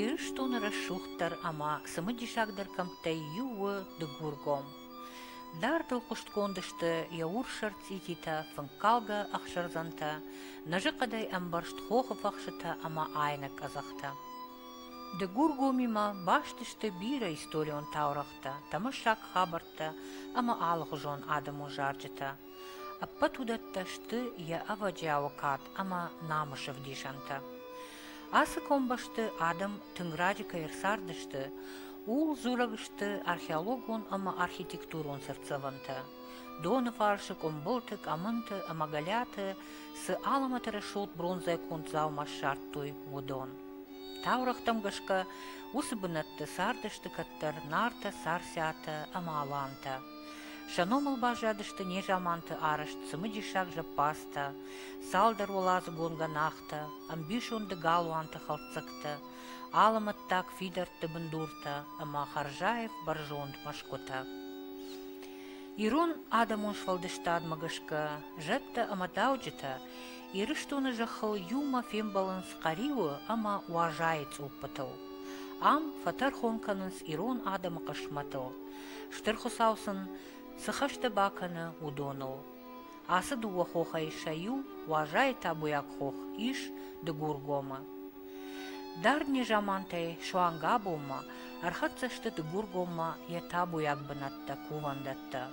Ирыстоны рӕсугъддӕр ӕмӕ цымыдисагдӕр кӕмттӕй иу у Дыгургом. Дардыл хъуыстгонд сты йӕ урссӕр цъититӕ, фынккалгӕ ӕхсӕрдзӕнтӕ, нӕзы хъӕдӕй ӕмбӕрзт хохы фӕхсытӕ ӕмӕ айнӕг къӕдзӕхтӕ. Дыгургомимӕ баст сты бирӕ историон таурӕгътӕ, тӕмӕссаг хабӕрттӕ ӕмӕ алыгъуызон адӕмон зарджытӕ. Ӕппӕт уыдӕттӕ сты йӕ ӕвӕджиауы кад ӕмӕ намысы вдисӕнтӕ. Ацы комбӕсты адӕм тынг раджы кӕй ӕрцардысты, ууыл дзурӕг сты археологон ӕмӕ архитектурон цыртдзӕвӕнтӕ. Доныфарсы, къуымбылты, къӕмынты ӕмӕ гӕлиаты цы алымӕты рӕсугъд бронзӕ конд дзаума ссардтой, уыдон. Таурӕгътӕм гӕсгӕ, уыцы бынӕтты цардысты кӕддӕр Нартӕ, Царциатӕ ӕмӕ Алантӕ. Сӕ номыл баззадысты незаманты арӕзт цымыдисаг зӕппадзтӕ, цалдӕр уӕладзыгонгӕ нӕхтӕ, ӕмбисонды галуанты хӕлддзӕгтӕ, алымӕттаг фидӕртты бындуртӕ ӕмӕ Харзаев бӕрзонд мӕсгуытӕ. Ирон адӕмон сфӕлдыстадмӕ гӕсгӕ зӕдтӕ ӕмӕ дауджытӕ Ирыстоны зӕххыл иумӕ фембӕлынц Хъӕриуы ӕмӕ Уазайы цъуппытыл. Ам фӕтӕрхон кӕнынц ирон адӕмы хъысмӕтыл, Стыр Хуыцау сын цы хӕстӕ бакӕны, уыдоныл. Ацы дыууӕ хохӕй сӕ иу, Уазайы табуйаг хох, ис Дыгургомы. Дард незамантӕй суанг абонмӕ ӕрхӕццӕ сты Дыгургоммӕ йӕ табуйаг бынӕттӕ, кувӕндӕттӕ.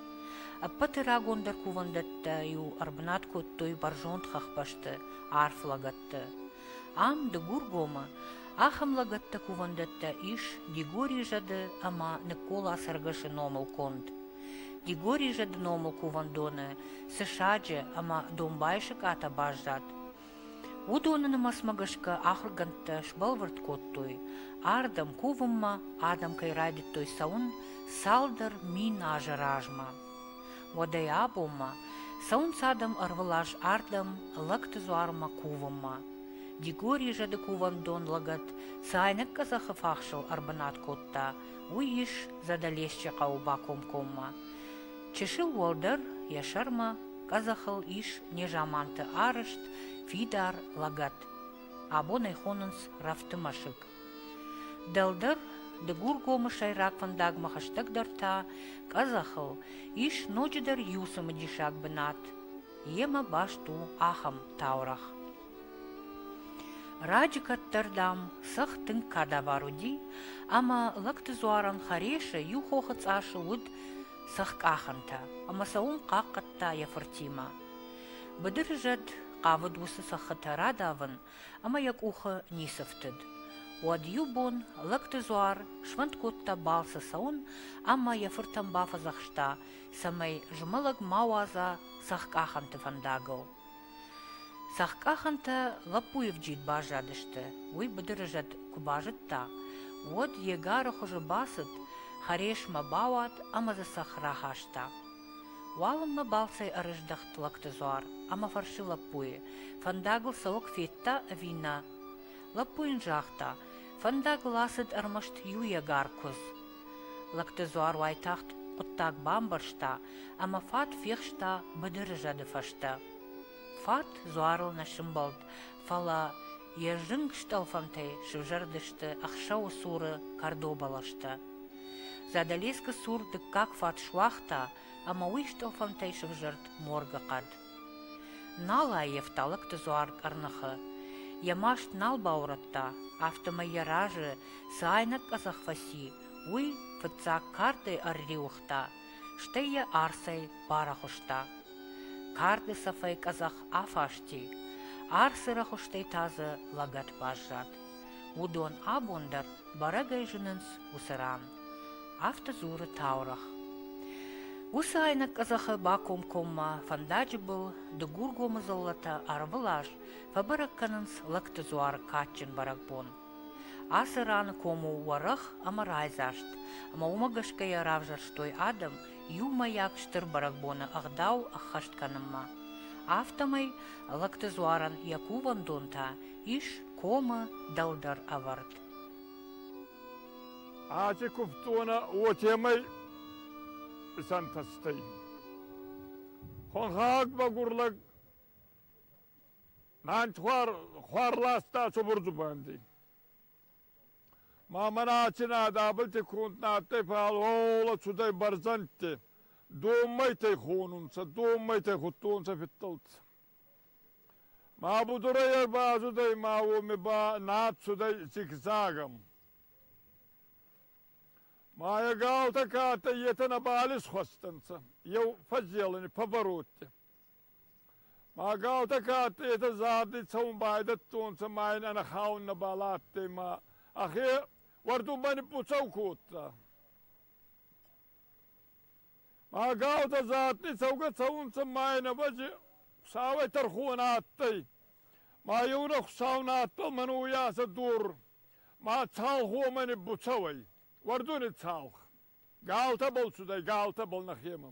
Ӕппӕты рагондӕр кувӕндӕттӕ-иу ӕрбынат кодтой бӕрзонд хӕхбӕсты, арф лӕгӕтты. Ам, Дыгургомы, ахӕм лӕгӕттӕ-кувӕндӕттӕ ис Дигорийы зӕды ӕмӕ Ныккол ацӕргӕсы номыл конд. Дигорийы зӕды номыл кувӕндоны цы саджы ӕмӕ домбайы сыкъатӕ баззад, уыдоны нымӕцмӕ гӕсгӕ ахуыргӕндтӕ сбӕлвырд кодтой, ардӕм кувынмӕ адӕм кӕй райдыдтой цӕуын цалдӕр мин азы размӕ. Уӕдӕй абонмӕ цӕуынц адӕм ӕрвылаз ардӕм лӕгты дзуармӕ кувынмӕ. Дигори зӕды кувӕндон лӕгӕт цы айнӕг къӕдзӕхы фахсыл ӕрбынат кодта, уый ис Задӕлесчы хъӕуы бакомкоммӕ. Чысыл уӕлдӕр йӕ сӕрмӕ къӕдзӕхыл ис незаманты арызт фидар лӕгӕт. Абон ӕй хонынц рӕфты мӕсыг. Дӕлдӕр Дыгургомы сӕйраг фӕндагмӕ хӕстӕгдӕр та къӕдзӕхыл ис ноджыдӕр иу цымыдисаг бынат. Йемӕ баст у ахӕм таурӕгъ. Раджы кӕддӕрдӕм сых тынг кадавар уыди, ӕмӕ лӕгты дзуарӕн Хӕресы иу хохы цъасы уыд сыхкъахӕнтӕ, ӕмӕ сӕ уым хъахъхъӕдта йӕ фыртимӕ. Быдыры зӕд хъавыд уыцы сыххытӕ радавын, ӕмӕ йӕ къухы ницы фтыд. Уӕд иу бон лӕгты дзуар сфӕнд кодта балцы цӕуын ӕмӕ йӕ фыртӕн бафӕдзӕхста, цӕмӕй змӕлӕг ма уадза цӕхкъахӕнты фӕндагыл. Цӕхкъахӕнтӕ лӕппуйы вджид баззадысты. Уый быдыры зӕд куы базыдта, уӕд йе гары хуызы бацыд, хӕресмӕ бауад ӕмӕ дзы цӕхх рахаста. Уалынмӕ балцӕй ӕрыздӕхт лӕгты дзуар ӕмӕ фӕрсы лӕппуйы, фӕндагыл цӕуӕг федта ӕви нӕ. Лӕппу йын загъта, фӕндагыл ацыд ӕрмӕст иу егар куыдз. Лӕгты дзуар уайтагъд хъуыддаг бамбӕрста ӕмӕ фат фехста быдыры зӕды фӕстӕ. Фат дзуарыл нӕ сымбӕлд, фӕлӕ Йе зынг стъӕлфӕнтӕй сывзӕрдысты ӕхсӕвы цуры кӕрдо бӕлӕстӕ. Задӕлескы цур дыккаг фат суагъта ӕмӕ уый стъӕлфӕнтӕй сывзӕрд моргы хъӕд. Нал ӕййӕф талыгты дзуар къӕрныхы. Йӕ маст нал баурӕдта, афтӕмӕй йӕ разы цы айнӕг къӕдзӕх фӕци, уый фыццаг кӕрдӕй ӕрриуыгъта стӕй йӕ арцӕй барӕхуыста. Карды цӕфӕй къӕдзӕх афасти, арцы рӕхуыстӕй та дзы лӕгӕт баззад. Уыдон абон дӕр бӕрӕгӕй зынынц уыцы ран. Афтӕ дзуры таурӕгъ. Уыцы айнӕг къӕдзӕхы бакомкоммӕ фӕндаджы был дыгургомы дзыллӕтӕ ӕрвылаз фӕбӕрӕг кӕнынц лӕгты дзуары кадджын бӕрӕгбон. Ацы раны ком у уӕрӕх ӕмӕ райдзаст, ӕмӕ уымӕ гӕсгӕ йӕ равзӕрстой адӕм иумӕйаг стыр бӕрӕгбоны ӕгъдау ӕххӕст кӕнынмӕ. Афтӕмӕй лӕгты дзуарӕн йӕ кувӕндон та ис комы дӕлдӕр ӕвӕрд. Аци кувдтонӕ уотемӕй исӕнтӕстӕй. Хуӕнхаг багур лӕг Мӕн хуар, хуар ласта цубур дзубанди. Ма мӕн ацинад абилти кунд на адтӕй палола цудӕй бӕрзӕндти. Доммайтӕй хонунцӕ, доммайтӕй худтонцӕ фидтӕлтӕ. Ма будурайӕг ба ацудӕй ма уоми ба надсудӕй зигзагам. Ма е галтӕ ка адтӕй, етӕ нӕбал исхуӕстӕнцӕ, еу фӕззелини, пӕбородти. Ма гаутӕ ка адтӕйтӕ зарди цӕун байдӕдтонцӕ ма ин ӕнӕхаун нӕбал адтӕй ма ӕхе уӕрдунбӕл ниппуцӕу кодта. Ма гаутӕ задни цӕугӕ цӕунцӕ ма ин ӕвӕджи Хуцауӕй тӕрхон адтӕй. Ма еунӕ Хуцау надтал мӕн уйасӕ дор, ма цалхомӕ ниббуцӕуй, уӕрдуни цалх. Галтӕбӕл цудӕй, галтӕбӕл нӕхемӕ.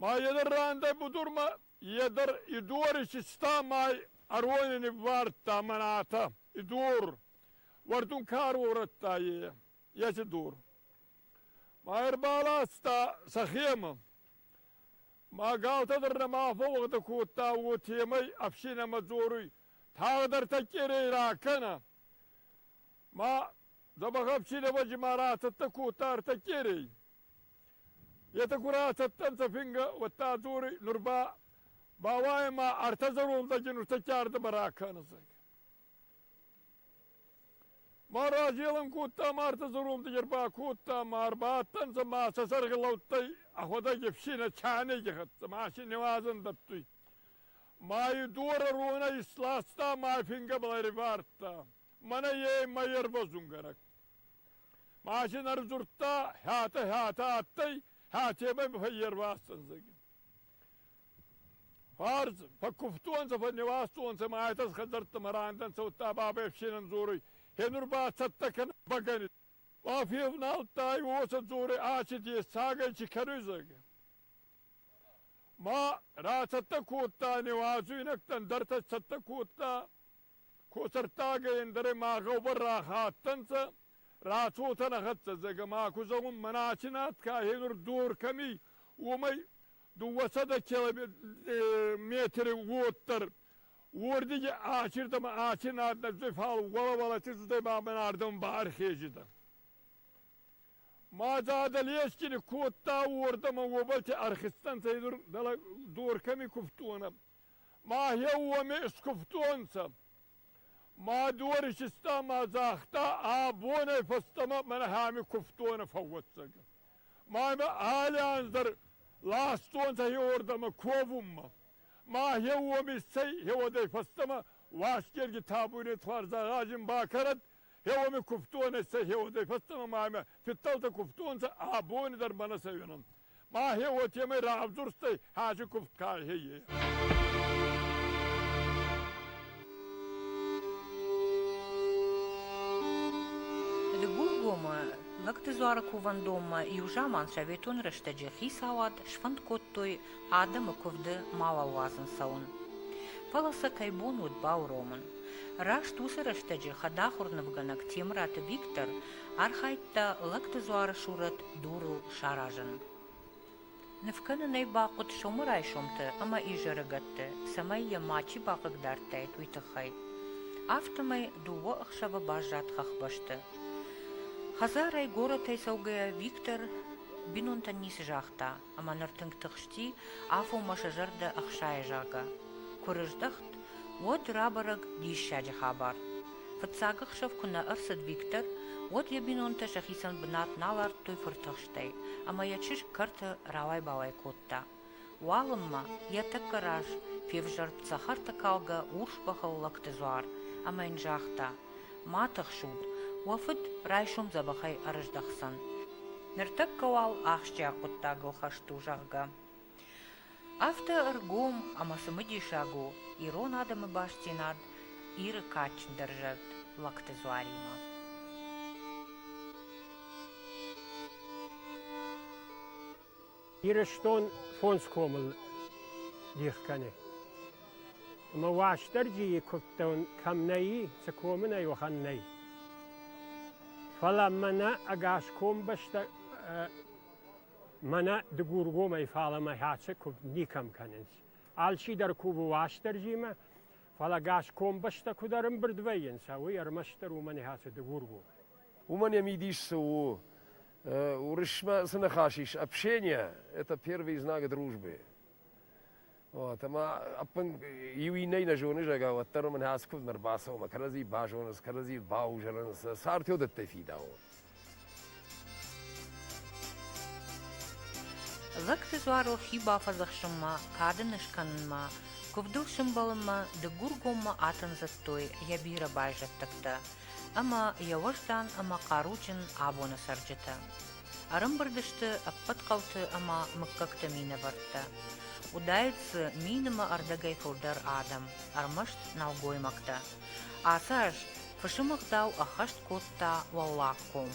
Ма йедӕр рандӕй будурмӕ, йедӕр идуаричиста май ӕрони ниввардта мӕнӕтӕ. И дур! Уӕрдун ка ӕруорӕдта, е! Еци дур! Ма ӕрбаласта сӕхемӕ. Ма галтӕ дӕр нӕма фӕууӕгъдӕ кодта уотемӕй ӕфсийнӕмӕ дзоруй, тагъдӕр тӕккерей ракӕнӕ! Ма дзӕбӕх ӕфсийнӕвӕджи ма ратӕдтӕ кодта ӕртӕккерей. Етӕ курӕ цӕттӕнцӕ фингӕ, уӕдта дзори нур ба ба уаемӕ ӕртӕ зӕрондӕги нуртӕккӕрдӕмӕ ракӕнесӕг. Ма разелӕн кодта ма ӕртӕ зӕрондӕги ӕрбакодта ма ӕрбадтӕнцӕ ма сӕ сӕрги лӕудтӕй ӕхуӕдӕги ӕфсийнӕ чайнеги хӕццӕ, ма си нивазӕн дӕттуй. Ма и дора ронӕ исласта ма фингӕбӕл ӕривардта. Мӕнӕ е мӕ ервӕзунгӕнӕг. Машин ӕрдзурдта, хӕтӕ-хӕтӕ адтӕй, хӕтебӕй мӕ фӕйервастӕнзӕги. Фарз, фӕккувтонцӕ, фӕнневастонцӕ ма айтӕс хӕдзӕрттӕмӕ рандӕнцӕ, удта бабӕй ӕфсенӕн дзоруй, хенур ба цӕттӕ кӕнӕ бӕгӕни. Ба февналдтай, уосӕ дзоруй, ачи дес цагӕй чи кӕнуй, зӕгӕ. Ма рацӕттӕ кодта, неуазуйнӕгтӕн дӕр цӕттӕ кодта, Косӕрттагӕй ӕндӕр ма гъӕубӕр рахаттӕнцӕ, рацотӕ нӕхӕццӕ зӕгӕ ма ку зӕгъун, мӕнӕ аци над ка хенур дор кӕми, уомӕй дууӕсӕдӕ метри уоддӕр. Уордиги ачирдӕмӕ аци над нӕдзуй, фал уӕлӕ-уӕлӕ чизутӕй ба мӕн ардӕм бархезидӕ. Ма задӕ лесгини кодта уордӕмӕ уобӕлти ӕрхизтӕнцӕ, хедур дӕлӕ дор кӕми кувтонӕ. Мӕхе уоми скувтонцӕ. Мӕ дуари систа ма загъта, ӕ бонӕй фӕстӕмӕ мӕнӕхӕми кувтонӕ фӕууӕццӕг. Мӕмӕ алли анз дӕр ластонцӕ хеуордӕмӕ ковунмӕ. Мӕхе уоми цӕй хеуодӕй фӕстӕмӕ Уасгерги табуйни тварзагъазин бакӕнӕд, хеуоми кувтонӕй цӕй хеуодӕй фӕстӕмӕ мӕмӕ фидтӕлтӕ кувтонцӕ, ӕ бони дӕр мӕнӕ цӕуӕнӕн. Мӕхе уотемӕй равдурстӕй хӕжи куфт кайхе е. Льгулгомы Лӕгтыдзуары кувӕндонмӕ иу заман советон рӕстӕджы хицауад сфӕнд кодтой адӕмы куывды мауал уадзын цӕуын. Фӕлӕ сӕ кӕй бон уыд бауромын. Раст уыцы рӕстӕджы хӕдахуыр нывгӕнӕг Темыраты Виктор архайдта лӕгты дзуарысурӕт дурыл саразын. Ныв кӕнын ӕй бахъуыд сомы райсомты ӕмӕ изӕрыгӕтты, цӕмӕй йӕ мачи бахъыгдардтаид, уый тыххӕй. Афтӕмӕй дыууӕ ӕхсӕвы баззад хӕхбӕсты. Хӕдзарӕй горӕтӕй цӕугӕйӕ Виктор бинонтӕн ницы загъта, ӕмӕ ныр тынг тыхсти, афонмӕ сӕ зӕрдӕ ӕхсайы, зӕгъгӕ. Куы рыздӕхт, уӕд рабӕрӕг диссаджы хабар. Фыццаг ӕхсӕв куы нӕ ӕрцыд Виктор, уӕд йӕ бинонтӕ сӕхицӕн бынат нал ардтой фыртыхстӕй, ӕмӕ йӕ чызг кӕрты рауай-бауай кодта. Уалынмӕ йӕ тӕккӕ раз февзӕрд цӕхӕртӕкалгӕ урс бӕхыл лӕгты дзуар ӕмӕ йын загъта. ма тыхсут, уӕ фыд райсом дзӕбӕхӕй ӕрыздӕхдзӕн, ныртӕккӕ уал ахсджиаг хъуыддагыл хӕст у, зӕгъгӕ. Афтӕ ӕргом ӕмӕ цымыдисаг у ирон адӕмы бастдзинад Иры кадджындӕр зӕд Лӕгты Дзуаримӕ. Ирыстон фондз комыл дих кӕны. Ӕмӕ Уастырджийы куывдтӕн кӕм нӕй, цы комы нӕй, уӕхӕн нӕй. Фӕлӕ мӕнӕ ӕгас комбӕстӕ мӕнӕ дыгургомӕй фалӕмӕ хӕцы куывд никӕм кӕнынц. Алчидӕр кувы Уастырджимӕ, фӕлӕ ӕгас комбӕстӕ куыд ӕрӕмбырд вӕййынц, уый ӕрмӕстдӕр уымӕн хӕцы дыгургом. Уымӕн йӕ мидис цы у, Уырысмӕ цы ныхас ис? Общение – это первые знаки дружбы. Вот, ӕмӕ ӕппын иу иннӕй нӕ зоны, зӕгъгӕ, уӕддӕр уымӕн хӕц куыд ныр бацӕуынмӕ, кӕрӕдзи базонынц, кӕрӕдзи баузӕнынц, цард уыдӕттӕй фидауы. Дзӕгты дзуарыл хи бафӕдзӕхсынмӕ, кады нескӕнынмӕ, куывдыл сӕмбӕлынмӕ дыггургоммӕ атын зыдтой йӕ бирӕ байзӕддӕгтӕ. ӕмӕ йӕ уӕздан ӕмӕ хъаруджын абоны цӕрджытӕ. Ӕрымбырд сты ӕппӕт хъӕуты ӕмӕ мыггӕгты минӕвӕрттӕ. Уыдаид дзы мин ӕмӕ ӕрдӕгӕй фылдӕр адӕм, ӕрмӕст нӕлгоймӕгтӕ. Ацы аз фысымы гъдау ӕххӕст кодта Уӕллаг ком.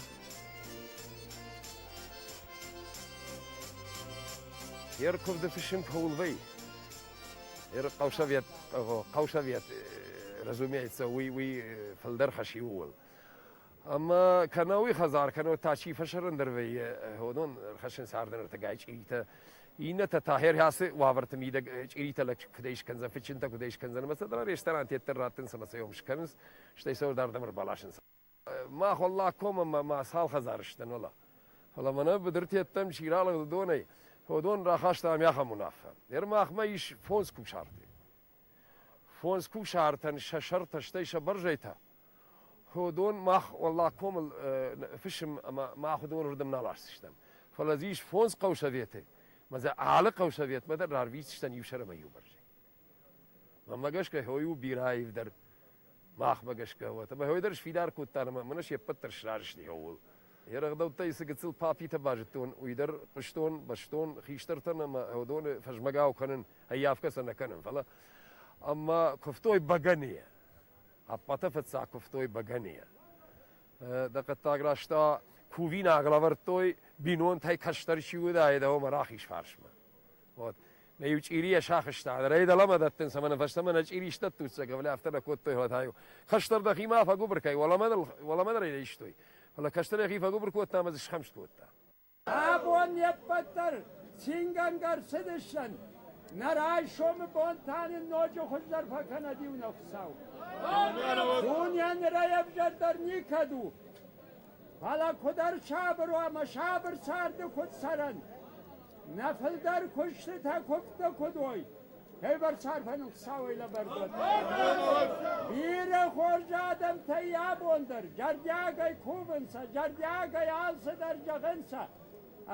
Йе ркуывды фысым кӕуыл вӕййы? Хъӕусовет, хъӕусовет, разумеется, уый, уый фылдӕр хӕс у. Ӕмӕ кӕнӕ уый хӕдзар, кӕнӕ та чи фӕсӕрӕн дӕр вӕййы, хонон, ӕрхӕссын цардӕнӕртӕгай чъиритӕ. Иннӕтӕ та хӕрхӕцы уавӕрты мидӕг чъиритӕ лӕг куыдӕй скӕндзӕн, фыдчынтӕ куыдӕй скӕндзӕн, ӕмӕ сӕ ресторан теддӕр раттынц ӕмӕ сӕ йом скӕнынц, стӕй сӕ дардӕм ӕрбаласынц. Мах уӕллаг комы мӕ цал хӕдзар сдӕн, уӕлӕ. Фӕлӕ мӕнӕ быдырты ӕддӕм чи ралыгъдыдонӕй, уыдон рахастам ахӕм уынаффӕ. Ӕрмӕгъмӕ ис фондз кусарты. Фондз кусартӕн сӕ сӕртӕ, стӕй сӕ бӕрзӕйтӕ. Уыдон мах уӕллаг комыл фысым ӕмӕ мах уыдоны рдӕм нал асдзыстӕм. Фӕлӕ дзы ис фондз хъӕусоветы. Мӕ дзы алы хъӕусоветмӕ дӕр рарвитдзыстӕм иу сӕр ӕмӕ иу бӕрзӕй. Мӕмӕ гӕсгӕ хой у бирӕ аивдӕр махмӕ гӕсгӕ уӕд. Ӕмӕ хой дӕр сфидар кодта, ӕмӕ мӕнӕ се ппӕт дӕр сразы сты хъӕуыл. Йӕ рӕгъдӕуттӕй цы гыццыл папитӕ базыдтон, уый дӕр хъуыстон, бӕстон хистӕртӕн ӕмӕ уыдоны фӕзмӕгау кӕнын, ӕййафгӕ сӕ нӕ кӕнын, фӕлӕ. Ӕмӕ куывтой бӕгӕныйӕ. Ӕппӕты фыццаг куывтой бӕгӕныйӕ. Дӕ хъӕддаг рӕзтӕ кувинаг лӕвӕрдтой, бинонтӕй кӕстӕр чи уыдаид, ӕмӕ рахиз фарсмӕ. Вот. Нӕ иу чъирийӕ сахызта. Рӕй дӕлӕмӕ дӕттын, цӕмӕ нӕ фӕстӕмӕ нӕ чъири стӕттуццӕг, ӕвлӕ афтӕ нӕ кодтой, фӕлӕ та-иу хӕстӕр дӕхимӕ фӕгуыбыр кӕй, уӕлӕмӕ нӕ райстой. Фӕлӕ кӕстӕр йӕхи фӕгуыбыр кодта ӕмӕ дзы схӕмст кодта. Абон не ппӕт дӕр цингӕнгӕ ӕрцыдысӕн. Нӕ райсомы бон та нын ноджы хуыздӕр фӕкӕнӕд иу нӕ Хуыцау. Дунейӕ нырӕй ӕвзӕрдӕр никӕд у. Фӕлӕ куыд ӕрсабыр уа мӕ сабыр царды куыд цӕрӕн? Нӕ фылдӕр куыстытӕ куывдтӕ куыд уой? Фӕлварс арфӕн Хуыцауӕй лӕвӕрдгӕ. Бирӕ хорз адӕмтӕй абон дӕр зӕрдиагӕй кувынцӕ, зӕрдиагӕй алцыдӕр зӕгъынцӕ.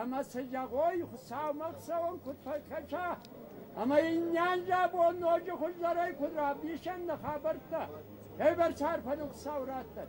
ӕма сӕйгъой Хуцаумӕ цӕун куд фӕккӕса, ӕма иннеан забон ноджы хуӕздӕрӕй куд равдесӕн нӕ хабӕрттӕ, февӕрс арфӕн Хуцау раттӕд!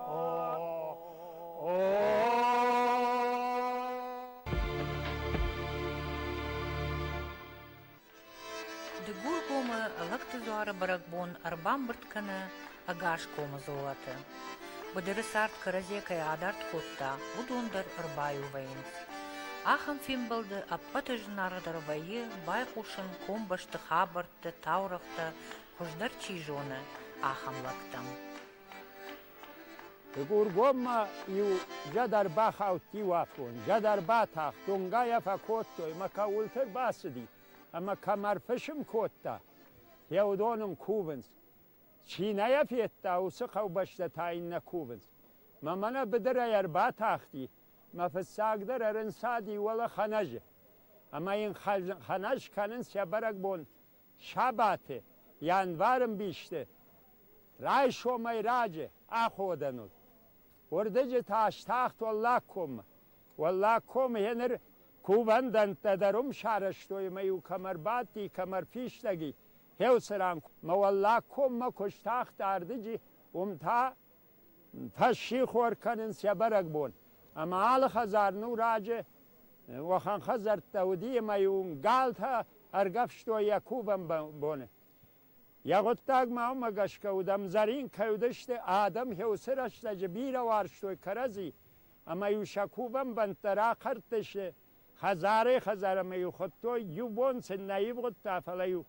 Дыгургомы лӕгты дзуары бӕрӕгбон ӕрбамбырд кӕны ӕгас комы золаты. Быдыры цард кӕрӕдзе кӕй адард кодта, уыдон дӕр ӕрбаиу вӕййынц. Ахӕм фембӕлды ӕппӕты зынаргъдӕр вӕййы байхъусын комбӕсты хабӕртты, таурӕгътӕ, хуыздӕр чи зоны, ахӕм лӕгтӕм. Дыгургоммӕ иу зӕдӕ рбахаудти уафон. Зӕдӕ рбатахт, донгайӕ фӕкодтой мӕ кӕуылты рбацыди ӕмӕ кӕм ӕрфысым кодта, йӕ уыдон ын кувынц. Чи нӕ йӕ федта, уыцы хъӕубӕстӕ та йын нӕ кувынц. Мӕ мӕнӕ быдырӕй ӕрбатахти, мӕ фыццагдӕр ӕрынцади уӕлӕ Хӕнӕжы. Ӕмӕ йын хӕнӕз кӕнынц йӕ бӕрӕгбон сабаты, январы мбисты, райсомӕй раджы аходӕн уыд. Уырдыджы та стахт Уӕллаг коммӕ. Уӕллаг комы гьеныр кувӕндӕнттӕ дӕр уым сарӕзтой ӕмӕ-иу кӕм ӕрбадти, кӕм ӕрфистӕг и, гьеуыцы ран мӕ Уӕллаг коммӕ куы стахт ардыджы, уым та фӕссихор кӕнын сӕ бӕрӕгбон. Ӕмӕ алы хӕдзар ну раджы уӕхӕн хӕдзӕрттӕ уыди, ӕмӕ-иу уым галтӕ ӕргӕвстой йӕ кувӕн боны. Йӕ гъуыддаг ма уымӕ гӕсгӕ уыд, ӕмдзӕрин кӕй уыдысты, адӕм хьюсы рӕстӕджы бирӕ уарзтой кӕрӕдзи, ӕмӕ-иу сӕ кувӕн бӕнттӕ рахӕрдтысты хӕдзарӕй-хӕдзармӕ-иу хуыдтой, иу бон сын нӕ ивгъуыдта, фӕлӕ-иу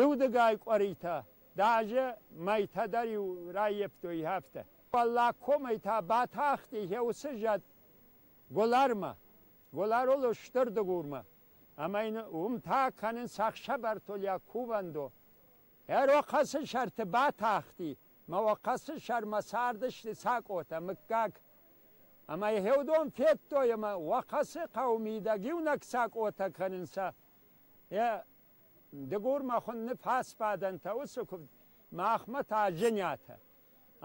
Еудӕгай къуӕритӕ, даже мӕйтӕ дӕр-иу раййӕфтой афтӕ. Уӕллаг комӕй та батахти уыцы зӕд Голармӕ, Голарол у Стыр Дыгурмӕ, ӕмӕ йын уым та кӕнынц ӕхсӕвӕртолиаг кувӕндо. Ӕрохъӕцы сӕрты батахти, мӕ охъӕцы сӕрмӕ цардысты Цакъотӕ, мыггаг. Ӕмӕ Еудон федтой, ӕмӕ Охъӕцы хъӕуы мидӕг иунӕг Цакъотӕ кӕнынц. Йӕ Дыгурмӕ хуынны фӕсфӕдӕнтӕ уыцы куывд, махмӕ та Женятӕ.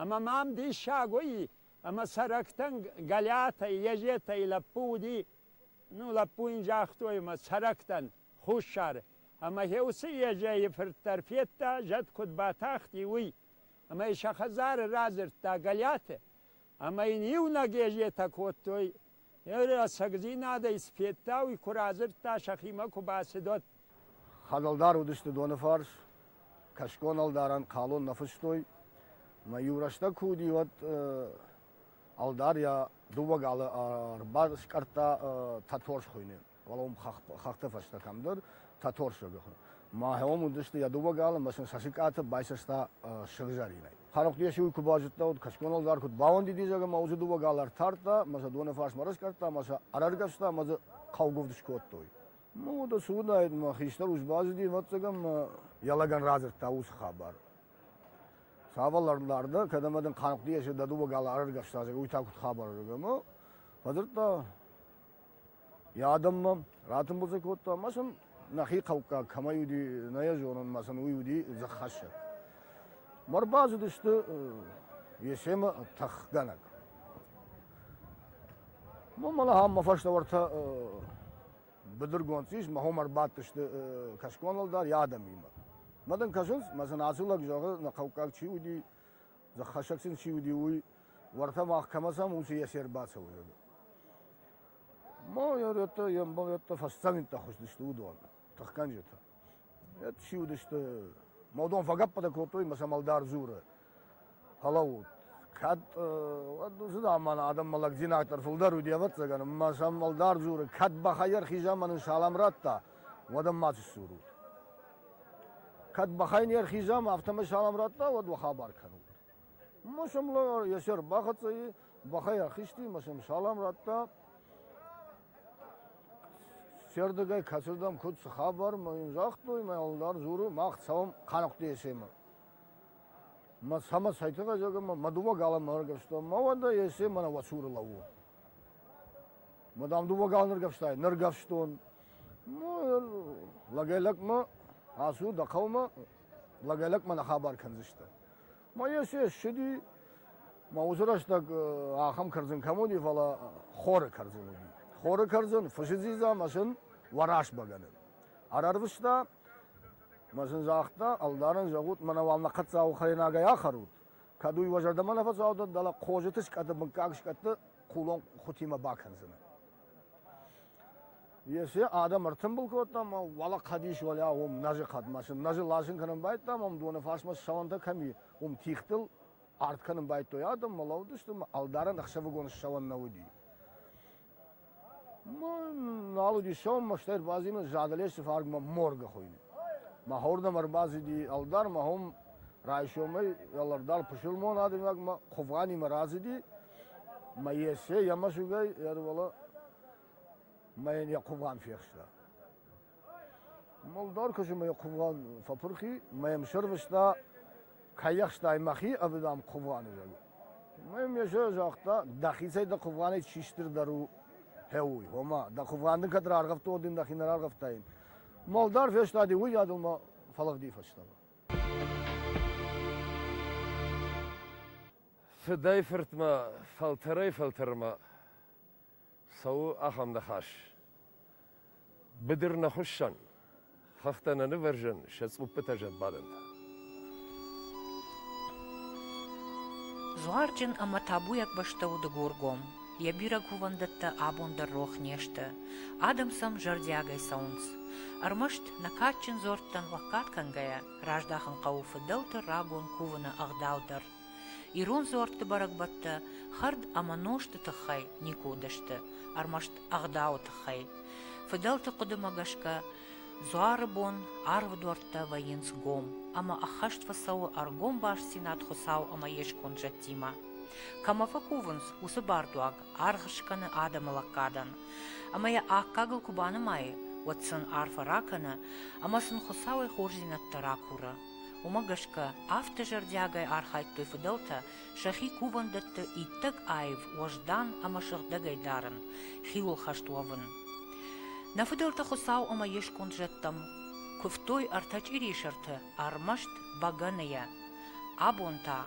Ӕмӕ мӕм диссаг уыи, ӕмӕ цӕрӕгтӕн Галиатӕй, Ежетӕй лӕппу уыди, ну, лӕппу йын загътой мӕ цӕрӕгтӕн, хуссары, ӕмӕ гье уыцы Ежейы фырт дӕр федта, зӕд куыд батахти, уый. Ӕмӕ йы сӕ хӕдзары радзырдта Галиаты, ӕма ин иунӕг езетӕ кодтой. Е рӕсӕгдзийнадӕй Сфеттауи ку радзырдта, сӕхимӕ ку бацидот. Хӕдӕлдар уыдысты Донифарс, кӕсгон-ӕлдарӕн хъалон нӕ фыстой, ӕмӕ иу рӕстӕг куы уыди, уӕд ӕлдар йӕ дыууӕ галы ӕрбаскъӕрдта Тӕтӕрс хуыйны. Валом хӕхты фӕстӕ кӕмдӕр Тӕторсыгы хы. Махӕм уыдысты йӕ дыууӕ галымӕ сын сасыкъаты байсӕста сыгъзӕринӕй. Хӕрӕгъдес уый куы базыдта, уыд кӕсгон ӕлдар куыд бауӕндид изӕр ӕмӕ уыцы дыууӕ гал ӕртардта, ӕмӕ сӕ доны фарсмӕ рыскъӕрдта ӕмӕ сӕ ӕрӕргӕвста ӕмӕ дзы хъӕугуывд скодтой. Ну, уыд цы уыдаид, мӕ хистӕр ус базыди, ӕвӕццӕг, ӕмӕ йӕ лӕгӕн радзырдта уыцы хабар. Цавӕр лӕрдар дӕ, кӕд ӕмӕ дын Хъанхъуды дӕ дыууӕ галы ӕрӕргӕвста, уый та куыд хабар ӕмӕ фӕдзырдта Йӕ адӕммӕ ратымбылдзӕ кодта ӕмӕ сын нӕхи хъӕуккаг кӕмӕй уыди, нӕ йӕ зонынмӕ сын уый уыди дзыххӕссӕг. Ма рбацыдысты Есемы тӕхгӕнӕг. Мӕнмӕ ахӕм мӕ фӕстӕвӕртӕ быдыргонд ис, мӕ хом ӕрбадтысты кӕсгон ӕлдар йӕ адӕмимӕ. Мӕ дын кӕсынц, мӕ сын ацы лӕг зӕгъы, нӕ хъӕуккаг чи уыди, Дзӕххӕсӕг син ци уди, уой, уӕртӕ мах кӕмӕ дзамунци есе ӕрбацӕуй. Ма еретӕ, ембалеттӕ фӕсцӕниттӕ хуздистӕ уодон, тӕхгӕнджитӕ. Ет си уидистӕ. Ма уодон фӕгӕппатӕ кодтой ма сӕмӕлдар дзуры. Хӕлаут. Кӕд зыдам мӕнӕ адӕммӕ лӕгдзинӕдтӕр фулдӕр уди ӕвӕццӕгӕн, ма сӕмӕлдар дзуры, кӕд бахайӕр хизӕмӕ нин салам радта, уӕд ӕм ма ци сдзурут? Кӕд бӕхӕй не рхизӕм, афтӕмӕй салам радта, уӕд уӕ хабар кӕнут. Ма сӕм йе се рбахӕццӕ и, бӕхӕй ӕрхизти, ма сӕм салам радта. Сердыгӕй кӕсырдӕм куыд цы хабар, ма йын загътой, мӕ ӕлдар дзуры, мах цӕуӕм Хъанахъуты Есемы. Ма сӕмӕ сайтыгъӕзӕгӕмӕ мӕ дыууӕ галӕммӕ ӕргӕвстон, ма уӕдӕ Есе мӕнӕ уӕ цуры лӕууы. Ма дам дыууӕ галы ныргӕвстай, ныргӕвстон. лӕгӕй-лӕгмӕ ацу дӕ хъӕумӕ, лӕгӕй-лӕгмӕ нӕ хабар кӕндзыстӕ. ма еци ссиди, ма уыцы рӕстӕг ахӕм кӕрдзын кӕм уыди, фӕлӕ хоры кӕрдзын уыди. Хоры кӕрдзын фысы дзидза мӕ сын уӕрас бӕгӕны. Ӕрӕрвыста, мӕ сын загъта, ӕлдарӕн зӕгъут, мӕнӕ уал нӕ хъӕццауы хӕйнагӕй ахӕрут, кӕд уый уӕ зӕрдӕмӕ нӕ фӕцаудӕт, дӕлӕ хъозыты скъӕты, мыггаг скъӕтты хъулон хутимӕ бакӕндзынӕ. Есе адӕм ӕртымбыл кодтам ӕмӕ уӕлӕ хъӕдис уӕлӕ уым нӕзы хъӕдмӕ сын нӕзы ласын кӕнын байдтам, ам доны фарсмӕ сауӕнтӕ кӕм и, уым тигътыл арт кӕнын байдтой адӕммӕ, лӕууыдысты ӕмӕ ӕлдарӕн ӕхсӕвыгон сауӕн нӕ уыди. Нал уыди сауӕн, мӕ стӕй ӕрбазимын задӕлес фаргмӕ моргы хуыйны. Мӕ хордӕм ӕрбацыди ӕлдар, мӕ хом райсомӕй ӕлдар пысылмон адӕймагмӕ Хъуывгъанимӕ рацыди, Мӕ Есе йӕ мӕсыгӕй ӕрвӕла мӕ йын йӕ хъуган фехста. Молдар куысымӕ йӕ хъуган фӕпырхи, мӕ йӕм сӕрвыста, кайахстай мӕхи ӕви дам хъуганы зӕгъы. Мӕ йӕм Есе загъта, дӕхицӕй дӕ хъуганӕй чи стырдӕр у, фӕуй, ома, дӕ хъуган дын кӕд раргъӕвта, уӕд дын дӕхи нӕ раргъӕвтаин. Молдар фестади уыйадыл мӕ фӕлыгъди фӕстӕмӕ. Фыдӕй-фыртмӕ, фӕлтӕрӕй-фӕлтӕрмӕ цӕуы ахӕм ныхас, Быдыр нӕ хуыссӕн, хӕхтӕ нӕ нывӕрзӕн сӕ цъуппытӕ зӕдбадӕнтӕ. Дзуарджын ӕмӕ табуйаг бӕстӕ у Дыгургом. Йӕ бирӕ кувӕндӕттӕ абон дӕр рох не сты. Адӕм сӕм зӕрдиагӕй цӕуынц. Ӕрмӕст, нӕ кадджын дзорттӕн лӕггад кӕнгӕйӕ, раздахын хъӕуы фыдӕлты рагон кувыны ӕгъдау дӕр. Ирон дзуӕртты бӕрӕгбӕттӕ хӕрд ӕмӕ нозты тыххӕй никуы уыдысты, ӕрмӕст ӕгъдауы тыххӕй. Фыдӕлты хъуыдымӕ гӕсгӕ, дзуары бон арвыдуӕрттӕ вӕййынц гом, ӕмӕ ӕххӕст фӕцӕуы ӕргом бастдзинад Хуыцау ӕмӕ йе сконд зӕдтимӕ. Кӕмӕ фӕкувынц, уыцы бардуаг аргъ скӕны адӕмы лӕггадӕн. Ӕмӕ йӕ аккагыл куы банымайы, уӕд сын арфӕ ракӕны ӕмӕ сын Хуыцауӕй хорздзинӕдтӕ ракуры. Уымӕ гӕсгӕ афтӕ зӕрдиагӕй архайдтой фыдӕлтӕ сӕхи кувӕндӕтты иттӕг аив, уӕздан ӕмӕ сыгъдӕгӕй дарын, хиуылхӕст уӕвын. Нӕ фыдӕлтӕ Хуыцау ӕмӕ йе сконд зӕдтӕм куывтой ӕртӕ чъирисӕрты, ӕрмӕст бӕгӕныйӕ. Абон та,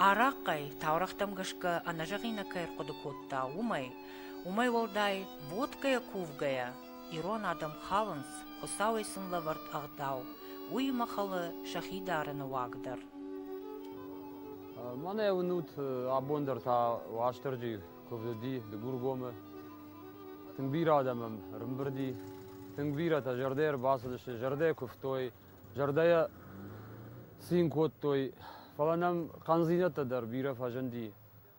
арахъхъӕй таурӕгътӕм гӕсгӕ ӕнӕзӕгъинаг кӕй ӕрхъуыды кодта, уымӕй, уымӕй уӕлдай водкӕйӕ кувгӕйӕ, Ирон адӕм хӕлынц, Хуыцауӕй сын лӕвӕрд ӕгъдау, уыимӕ хӕлы сӕхи дарыны уаг дӕр. Мӕнӕ уынут, абон дӕр та Уастырджи куывд уыди Дыгургомы. Тынг бирӕ адӕм ӕм ӕрымбырди, тынг бирӕтӕ зӕрдӕ ӕрбацыдысты, зӕрдӕ куывтой, зӕрдӕйӕ цин кодтой. Фӕлӕ нӕм хъӕндзинӕдтӕ дӕр бирӕ фӕзынди.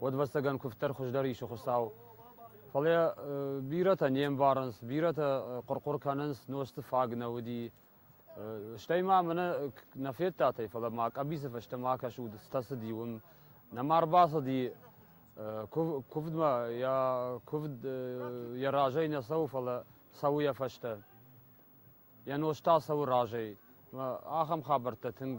Уодвӕстагӕн кувддӕр хуздӕр исы Хуцау. Фал бирӕтӕ не мбарынц, бирӕтӕ хъуыр-хъуыр кӕнынц, нозты фаг нӕ уыди. Стӕй ма мӕнӕ нӕ федтатӕй, фӕлӕ ма къӕбицы фӕстӕ ма кӕсут, стасыди уым. Нӕма рбацыди, куывдмӕ йӕ куывд йӕ разӕй нӕ цӕуы, фӕлӕ цӕуы йӕ фӕстӕ. Йӕ нозт та цӕуы разӕй. Ахӕм хабӕрттӕ тынг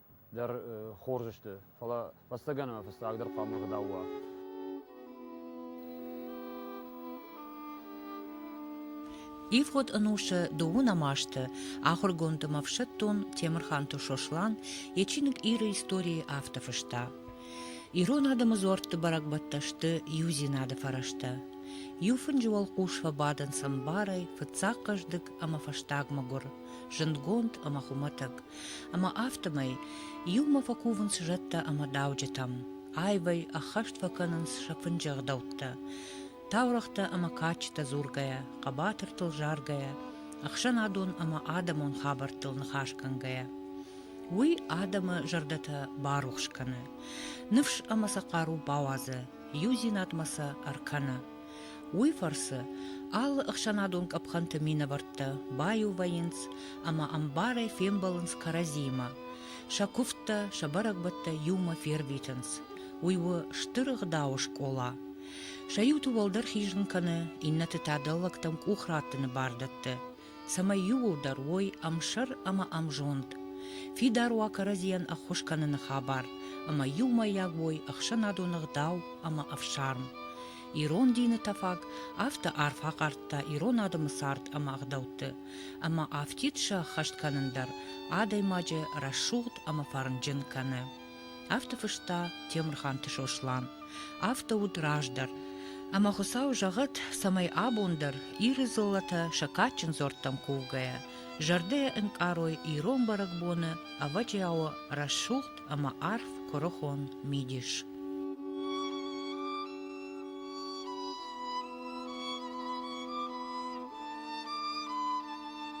дӕр хорз сты, фӕлӕ хӕстӕгӕн ӕмӕ фыццагдӕр хъуамӕ ӕгъдау уа. Ивгъуыд ӕнусы дыууынӕм азты ахуыргонд ӕмӕ ӕфсӕддон Темырханты Сослан йӕ чиныг Иры истории афтӕ фыста. Ирон адӕмы дзуӕртты бӕрӕгбӕттӕ сты иудзинады фӕрӕзтӕ. Иу фынджы уӕлхъус фӕбадынц ӕмбарӕй, фыццаг хъӕздыг ӕмӕ фӕстаг мӕгуыр. зындгонд ӕмӕ хуымӕтӕг, ӕмӕ афтӕмӕй иумӕ фӕкувынц зӕдтӕ ӕмӕ дауджытӕм, аивӕй ӕххӕст фӕкӕнынц сӕ фынджы ӕгъдӕуттӕ, таурӕгътӕ ӕмӕ кадджытӕ дзургӕйӕ, хъӕбатыртыл заргӕйӕ, ӕхсӕнадон ӕмӕ адӕмон хабӕрттыл ныхас кӕнгӕйӕ. Уый адӕмы зӕрдӕтӕ барухс кӕны, ныфс ӕмӕ сӕ хъару бауадзы, иудзинадмӕ сӕ ӕркӕны, Уый фӕрцы алы ӕхсӕнадон къӕпхӕнты минӕвӕрттӕ баиу вӕййынц ӕмӕ ӕмбарӕй фембӕлынц кӕрӕдзимӕ, сӕ куывдтӕ, сӕ бӕрӕгбӕттӕ иумӕ фервитынц. Уый у стыр ӕгъдауы скъола. Сӕ иуты уӕлдӕр хизын кӕны, иннӕты та дӕллӕгтӕм къух раттыны бар дӕтты. цӕмӕй иууылдӕр уой ӕмсӕр ӕмӕ ӕмзонд, фидар уа кӕрӕдзийӕн ӕххуыс кӕныны хабар ӕмӕ иумӕйаг уой ӕхсӕнадон ӕгъдау ӕмӕ ӕфсарм. Ирон дины тӕфаг афтӕ арф ахъардта ирон адӕмы цард ӕмӕ ӕгъдӕутты, ӕмӕ афтид сӕххӕст кӕнын дӕр адӕймаджы рӕсугъд ӕмӕ фӕрнджын кӕны. Афтӕ фыста Темырханты Сослан. Афтӕ уыд раздӕр. Ӕмӕ Хуыцау зӕгъӕд, цӕмӕй абон дӕр, Иры дзыллӕтӕ сӕ кадджын дзуӕрттӕм кувгӕйӕ, зӕрдӕйӕ ӕнкъарой ирон бӕрӕгбоны ӕвӕджиауы рӕсугъд ӕмӕ арф куырыхон мидис.